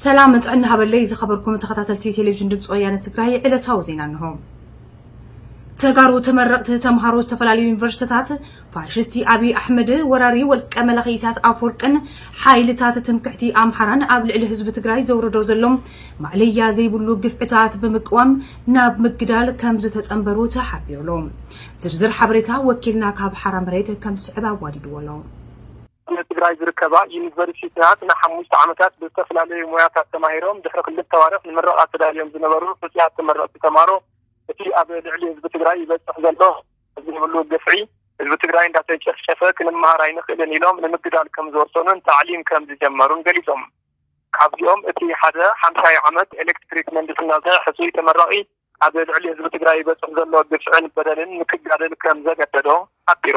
ሰላም ጥዕና ሃበለይ ዝኸበርኩም ተኸታተልቲ ቴሌቪዥን ድምፂ ወያነ ትግራይ ዕለታዊ ዜና እንሆ። ተጋሩ ተመረቕቲ ተምሃሮ ዝተፈላለዩ ዩኒቨርሲቲታት ፋሽስቲ ኣብዪ ኣሕመድ ወራሪ ወልቀ መላኺ ኢሳያስ ኣፈወርቅን ሓይልታት ትምክሕቲ ኣምሓራን ኣብ ልዕሊ ህዝቢ ትግራይ ዘውርዶ ዘሎ ማእለያ ዘይብሉ ግፍዕታት ብምቅዋም ናብ ምግዳል ከም ዝተጸንበሩ ተሓቢሩ ኣሎ። ዝርዝር ሓበሬታ ወኪልና ካብ ሓራ መሬት ከም ዝስዕብ ኣዋዲድዎ ኣሎ። ኣብ ትግራይ ዝርከባ ዩኒቨርሲቲታት ንሓሙሽተ ዓመታት ብዝተፈላለዩ ሞያታት ተማሂሮም ድሕሪ ክልተ ኣዋርሕ ንምረቓ ተዳልዮም ዝነበሩ ሕፁያት ተመረቕቲ ተምሃሮ እቲ ኣብ ልዕሊ ህዝቢ ትግራይ ይበፅሕ ዘሎ ዘይብሉ ግፍዒ ህዝቢ ትግራይ እንዳተጨፍጨፈ ክንመሃር ኣይንኽእልን ኢሎም ንምግዳል ከምዝወሰኑን ታዕሊም ከምዝጀመሩን ገሊፆም። ካብዚኦም እቲ ሓደ ሓምሳይ ዓመት ኤሌክትሪክ ምህንድስና ዝሰርሕ ሕፁይ ተመራቒ ኣብ ልዕሊ ህዝቢ ትግራይ ይበፅሕ ዘሎ ግፍዕን በደልን ንክጋደል ከምዘገደዶ ሓቢሩ።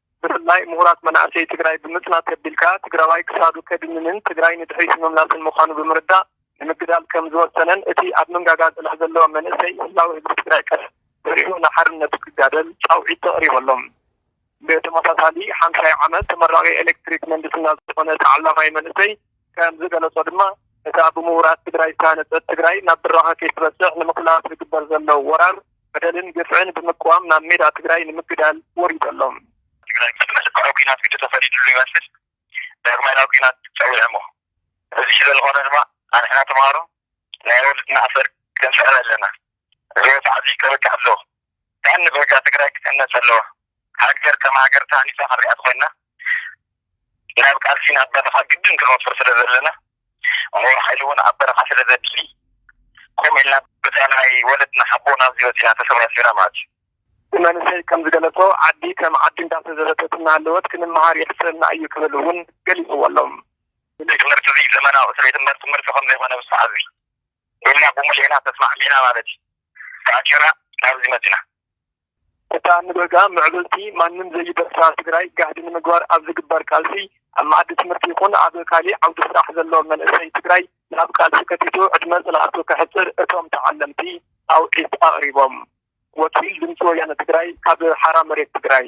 ብፍላይ ምሁራት መናእሰይ ትግራይ ብምፅናት ተቢልካ ትግራዋይ ክሳዱ ከድንንን ትግራይ ንድሕሪት ንምምላስን ምዃኑ ብምርዳእ ንምግዳል ከምዝወሰነን እቲ ኣብ መንጋጋ ፅልሕ ዘለዎ መንእሰይ ህላወ ህዝቢ ትግራይ ቀስ በሊሑ ንሓርነቱ ክጋደል ፃውዒት ተቕሪበሎም። ብተመሳሳሊ ሓምሻይ ዓመት ተመራቒ ኤሌክትሪክ ምህንድስና ዝኾነ ተዓላማይ መንእሰይ፣ ከም ዝገለፆ ድማ እታ ብምሁራት ትግራይ ዝተሃነፀት ትግራይ ናብ ብራኸ ከይትበፅሕ ንምኽላፍ ዝግበር ዘሎ ወራር፣ በደልን ግፍዕን ብምቅዋም ናብ ሜዳ ትግራይ ንምግዳል ወሪዱ ኣሎ። ትግራይ ምስ መልክዑ ኲናት ግዲ ተፈሪድሉ ይመስል ዳግማይ ናብ ኲናት ፀዊዑ እሞ እዚ ስለዝኾነ ድማ ኣንሕና ተምሃሮ ናይ ወለድና ኣሰር ክንስዕር ኣለና። እዚ ወፅዓ እዚ ከብቅዕ ኣለዎ። ቀንዲ በጃ ትግራይ ክትህነፅ ኣለዋ ሃገር ከም ሃገር ተሃኒፃ ክንሪኣ ተኾይንና ናብ ቃልሲ ናብ በረኻ ግድን ክንወፍር ስለዘለና ሙሉእ ሓይሊ እውን ኣብ በረኻ ስለዘድሊ ከምኡ ኢልና በዛ ናይ ወለድና ሓቦና ኣብዚ በፂሕና ተሰባሲብና ማለት እዩ። እቲ መንእሰይ ከም ዝገለፆ ዓዲ ከም ዓዲ እንዳተዘበተት እናሃለወት ክንመሃር የሕፍረና እዩ ክብል እውን ገሊፅዎ ኣሎ። እዚ ትምህርቲ እዚ ዘመናዊ ስለይትምበር ትምህርቲ ከምዘይኾነ ብሰዓት እዚ ኢልና ብሙሉኤና ተስማዕሚዕና ማለት እዩ። ተኣሲርና ናብዚ መፂና። እታ ንበጋ ምዕብልቲ ማንም ዘይደፍራ ትግራይ ጋህዲ ንምግባር ኣብ ዝግበር ቃልሲ ኣብ መኣዲ ትምህርቲ ይኹን ኣብ ካሊእ ዓውዲ ስራሕ ዘሎ መንእሰይ ትግራይ ናብ ቃልሲ ከቲቱ ዕድመ ፅንዓቱ ከሕፅር እቶም ተዓለምቲ ፃውዒት ኣቕሪቦም። ወኪል ድምፂ ወያነ ትግራይ ካብ ሓራ መሬት ትግራይ።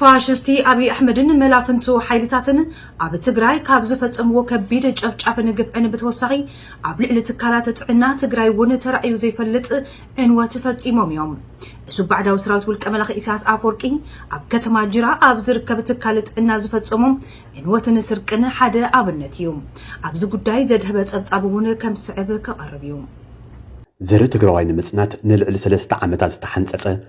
ፋሽስቲ ኣብይ ኣሕመድን መላፍንቱ ሓይልታትን ኣብ ትግራይ ካብ ዝፈፀምዎ ከቢድ ጨፍጫፍን ግፍዕን ብተወሳኺ ኣብ ልዕሊ ትካላት ጥዕና ትግራይ እውን ተራእዩ ዘይፈልጥ ዕንወት ፈፂሞም እዮም። እሱብ ባዕዳዊ ሰራዊት ውልቀ መላኺ ኢሳያስ ኣፈወርቂ ኣብ ከተማ ጅራ ኣብ ዝርከብ ትካል ጥዕና ዝፈፀሞ ዕንወትን ስርቅን ሓደ ኣብነት እዩ። ኣብዚ ጉዳይ ዘድሀበ ፀብፃብ እውን ከም ዝስዕብ ክቐርብ እዩ። ዘርኢ ትግራዋይ ንምፅናት ንልዕሊ ሰለስተ ዓመታት ዝተሓንፀፀ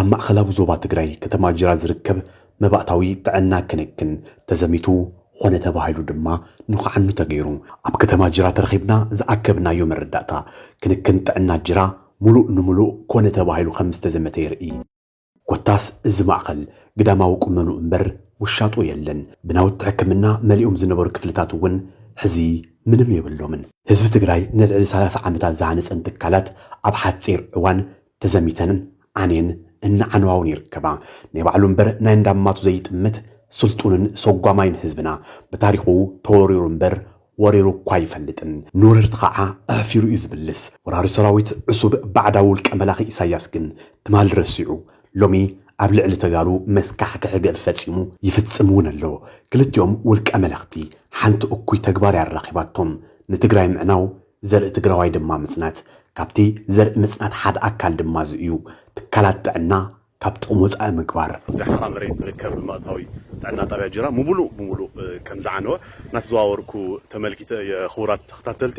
ኣብ ማእኸላዊ ዞባ ትግራይ ከተማ ጅራ ዝርከብ መባእታዊ ጥዕና ክንክን ተዘሚቱ ኾነ ተባሂሉ ድማ ንኽዓኑ ተገይሩ። ኣብ ከተማ ጅራ ተረኺብና ዝኣከብናዮ መረዳእታ፣ ክንክን ጥዕና ጅራ ሙሉእ ንሙሉእ ኮነ ተባሂሉ ከምዝተዘመተ የርእይ። ኮታስ እዚ ማእኸል ግዳማዊ ቁመንኡ እምበር ውሻጡ የለን። ብናውቲ ሕክምና መሊኦም ዝነበሩ ክፍልታት እውን ሕዚ ምንም የብሎምን። ህዝቢ ትግራይ ንልዕሊ ሰላሳ ዓመታት ዝሃነፀን ትካላት ኣብ ሓፂር እዋን ተዘሚተንን ዓንየን እናዓነዋውን ይርከባ። ናይ ባዕሉ እምበር ናይ እንዳማቱ ዘይጥምት ስልጡንን ሰጓማይን ህዝብና ብታሪኹ ተወሪሩ እምበር ወሪሩ እኳ ኣይፈልጥን ንወረርቲ ኸዓ ኣሕፊሩ እዩ ዝምልስ ወራሪ ሰራዊት ዕሱብ ባዕዳዊ ውልቀ መላኺ ኢሳያስ ግን ትማል ረሲዑ ሎሚ ኣብ ልዕሊ ተጋሩ መስካሕክሒ ግፍ ፈፂሙ ይፍፅም እውን ኣሎ ክልቲኦም ውልቀ መለኽቲ ሓንቲ እኩይ ተግባር እያ ኣራኺባቶም ንትግራይ ምዕናው ዘርኢ ትግራዋይ ድማ ምፅናት ካብቲ ዘርኢ ምፅናት ሓደ ኣካል ድማ እዚ እዩ ትካላት ጥዕና ካብ ጥቕሚ ወፃኢ ምግባር። ኣብ'ዚ ሓራ መሬት ዝርከብ ልምኣታዊ ጥዕና ጣብያ ጅራ ሙብሉእ ብሙሉእ ከምዝዓነወ እናተዘዋወርኩ ተመልኪተ እየ ኽቡራት ተኸታተልቲ።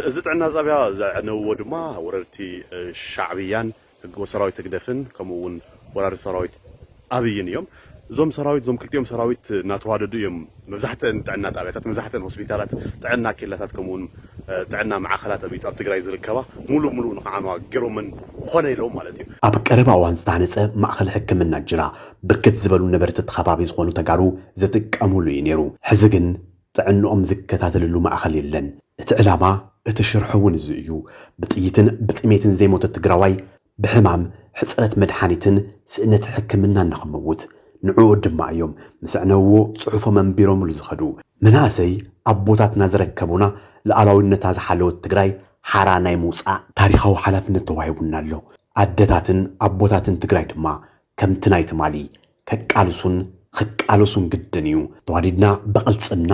እዚ ጥዕና ጣብያ ዘዕነውዎ ድማ ወረርቲ ሻዕብያን ሰራዊት ህግደፍን ከምኡ እውን ወራሪ ሰራዊት ኣብይን እዮም። እዞም ሰራዊት እዞም ክልቲኦም ሰራዊት እናተዋደዱ እዮም መብዛሕትአን ጥዕና ጣብያታት መብዛሕትአን ሆስፒታላት ጥዕና ኬላታት ከምኡ እውን ጥዕና ማዕኸላት ኣብ ኣብ ትግራይ ዝርከባ ሙሉእ ብሙሉእ ንክዓንዋ ገይሮመን ኮነ ኢሎም ማለት እዩ። ኣብ ቀረባ እዋን ዝተሃነፀ ማእኸል ሕክምና ጅራ ብርክት ዝበሉ ነበርቲ እቲ ከባቢ ዝኾኑ ተጋሩ ዝጥቀሙሉ እዩ ነይሩ። ሕዚ ግን ጥዕንኦም ዝከታተልሉ ማእኸል የለን። እቲ ዕላማ እቲ ሽርሒ እውን እዚ እዩ። ብጥይትን ብጥሜትን ዘይሞተ ትግራዋይ ብሕማም፣ ሕጽረት መድሓኒትን ስእነት ሕክምናን ንኽመውት፣ ንዕኡ ድማ እዮም ምስ ኣዕነውዎ ጽሑፎም ኣንቢሮምሉ ዝኸዱ። መናእሰይ ኣቦታትና ዘረከቡና ልኣላዊነታ ዝሓለወት ትግራይ ሓራ ናይ ምውጻእ ታሪኻዊ ሓላፍነት ተዋሂቡና ኣሎ። ኣደታትን ኣቦታትን ትግራይ ድማ ከምቲ ናይ ትማሊ ከቃልሱን ኽቃለሱን ግድን እዩ። ተዋዲድና ብቕልጽምና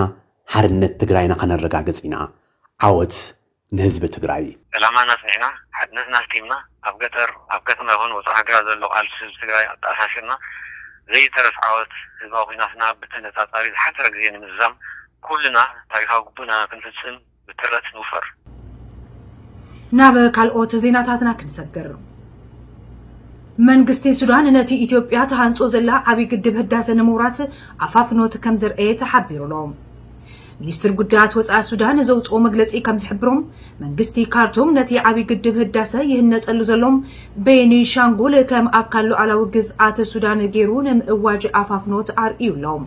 ሓርነት ትግራይና ከነረጋግጽ ኢና። ዓወት ንህዝቢ ትግራይ። ዕላማና ኣፅኒዕና፣ ሓድነትና ኣስጢምና፣ ኣብ ገጠር፣ ኣብ ከተማ ይኹን ወፃእ ሃገራት ዘሎ ቃልሲ ህዝቢ ትግራይ ኣተኣሳሲርና ዘይተረፍ ዓወት ህዝባዊ ኹናትና ብተነፃፃሪ ዝሓፀረ ግዜ ንምዝዛም ኩልና ታሪኻዊ ግቡእና ክንፍፅም ብትረት ንውፈር። ናብ ካልኦት ዜናታትና ክንሰግር። መንግስቲ ሱዳን ነቲ ኢትዮጵያ ተሃንጾ ዘላ ዓብዪ ግድብ ህዳሰ ንምውራስ ኣፋፍኖት ከም ዘርኣየ ተሓቢሩ'ሎ። ሚኒስትሪ ጉዳያት ወፃኢ ሱዳን ዘውፅኦ መግለፂ ከምዝሕብሮ መንግስቲ ካርቱም ነቲ ዓብዪ ግድብ ህዳሰ ይህነፀሉ ዘሎ ቤኒሻንጉል ከም ኣካል ሉዓላዊ ግዝኣት ሱዳን ገይሩ ንምእዋጅ ኣፋፍኖት ኣርእዩ ኣሎ።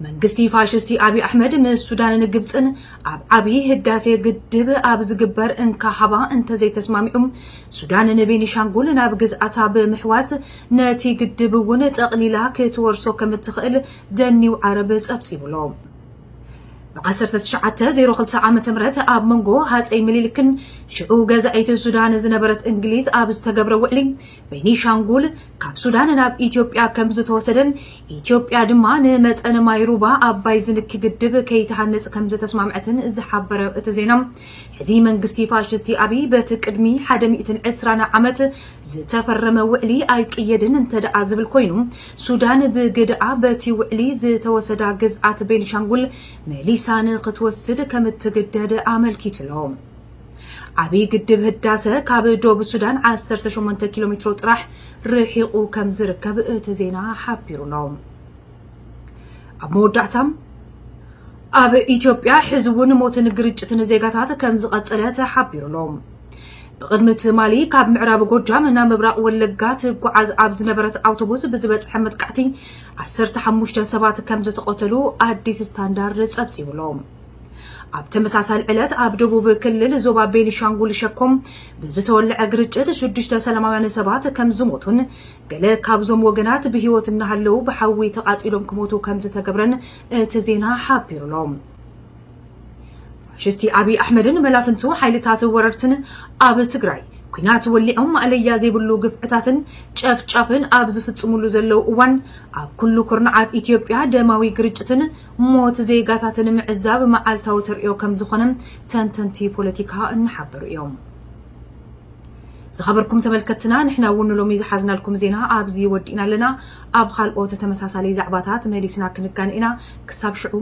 መንግስቲ ፋሽስቲ ኣብዪ ኣሕመድ ምስ ሱዳንን ግብፅን ኣብ ዓብዪ ህዳሴ ግድብ ኣብ ዝግበር እንካ ሃባ እንተዘይተስማሚዑ ሱዳን ንቤኒሻንጉል ናብ ግዝኣታ ብምሕዋስ ነቲ ግድብ እውን ጠቕሊላ ክትወርሶ ከምትኽእል The New Arab ጸብጺቡ'ሎ። ብ ዓሰርተ ትሽዓተ ዜሮ ክልተ ዓመተ ምህረት ኣብ መንጎ ሃጸይ ምኒልክን ሽዑ ገዛኢት ሱዳን ዝነበረት እንግሊዝ ኣብ ዝተገብረ ውዕሊ ቤኒሻንጉል ካብ ሱዳን ናብ ኢትዮጵያ ከም ዝተወሰደን ኢትዮጵያ ድማ ንመጠን ማይ ሩባ ኣባይ ዝንኪ ግድብ ከይትሃንጽ ከም ዝተስማምዐትን ዝሓበረ እቲ ዜና ሕዚ መንግስቲ ፋሽስቲ ኣብይ በቲ ቅድሚ ሓደ ሚእትን ዕስራን ዓመት ዝተፈረመ ውዕሊ ኣይቅየድን እንተደኣ ዝብል ኮይኑ ሱዳን ብግደኣ በቲ ውዕሊ ዝተወሰዳ ግዝኣት ቤኒሻንጉል መሊሳ ንክትወስድ ከምትግደድ ኣመልኪቱ'ሎ። ዓብዪ ግድብ ህዳሰ ካብ ዶብ ሱዳን ዓሰርተ ሸሞንተ ኪሎ ሜትሮ ጥራሕ ርሒቑ ከም ዝርከብ እቲ ዜና ሓቢሩ'ሎ። ኣብ መወዳእታ ኣብ ኢትዮጵያ ሕዚ እውን ሞትን ግርጭትን ዜጋታት ከም ዝቐፀለ ተሓቢሩ'ሎ። ብቕድሚ ትማሊ ካብ ምዕራብ ጎጃም ናብ ምብራቕ ወለጋ ትጓዓዝ ኣብ ዝነበረት ኣውቶቡስ ብዝበፅሐ መጥቃዕቲ 15 ሰባት ከም ዝተቐተሉ ኣዲስ ስታንዳርድ ፀብፂቡ ኣሎ። ኣብ ተመሳሳሊ ዕለት ኣብ ደቡብ ክልል ዞባ ቤኒሻንጉል ሸኮም ብዝተወልዐ ግርጭት ሽዱሽተ ሰላማውያን ሰባት ከም ዝሞቱን ገለ ካብዞም ወገናት ብህይወት እናሃለዉ ብሓዊ ተቓፂሎም ክሞቱ ከም ዝተገብረን እቲ ዜና ሓቢሩ ኣሎ። ፋሽስቲ ኣብይ ኣሕመድን መላፍንቱ ሓይልታት ወረርትን ኣብ ትግራይ ኩናት ወሊዖም ማእለያ ዘይብሉ ግፍዕታትን ጨፍጫፍን ኣብ ዝፍጽሙሉ ዘለው እዋን ኣብ ኩሉ ኩርናዓት ኢትዮጵያ ደማዊ ግርጭትን ሞት ዜጋታትን ምዕዛብ መዓልታዊ ተርእዮ ከም ዝኾነ ተንተንቲ ፖለቲካ እናሓበሩ እዮም። ዝኸበርኩም ተመልከትና ንሕና እውን ንሎሚ ዝሓዝናልኩም ዜና ኣብዚ ወዲእና ኣለና ኣብ ካልኦት ተመሳሳሊ ዛዕባታት መሊስና ክንጋን ኢና ክሳብ ሽዑ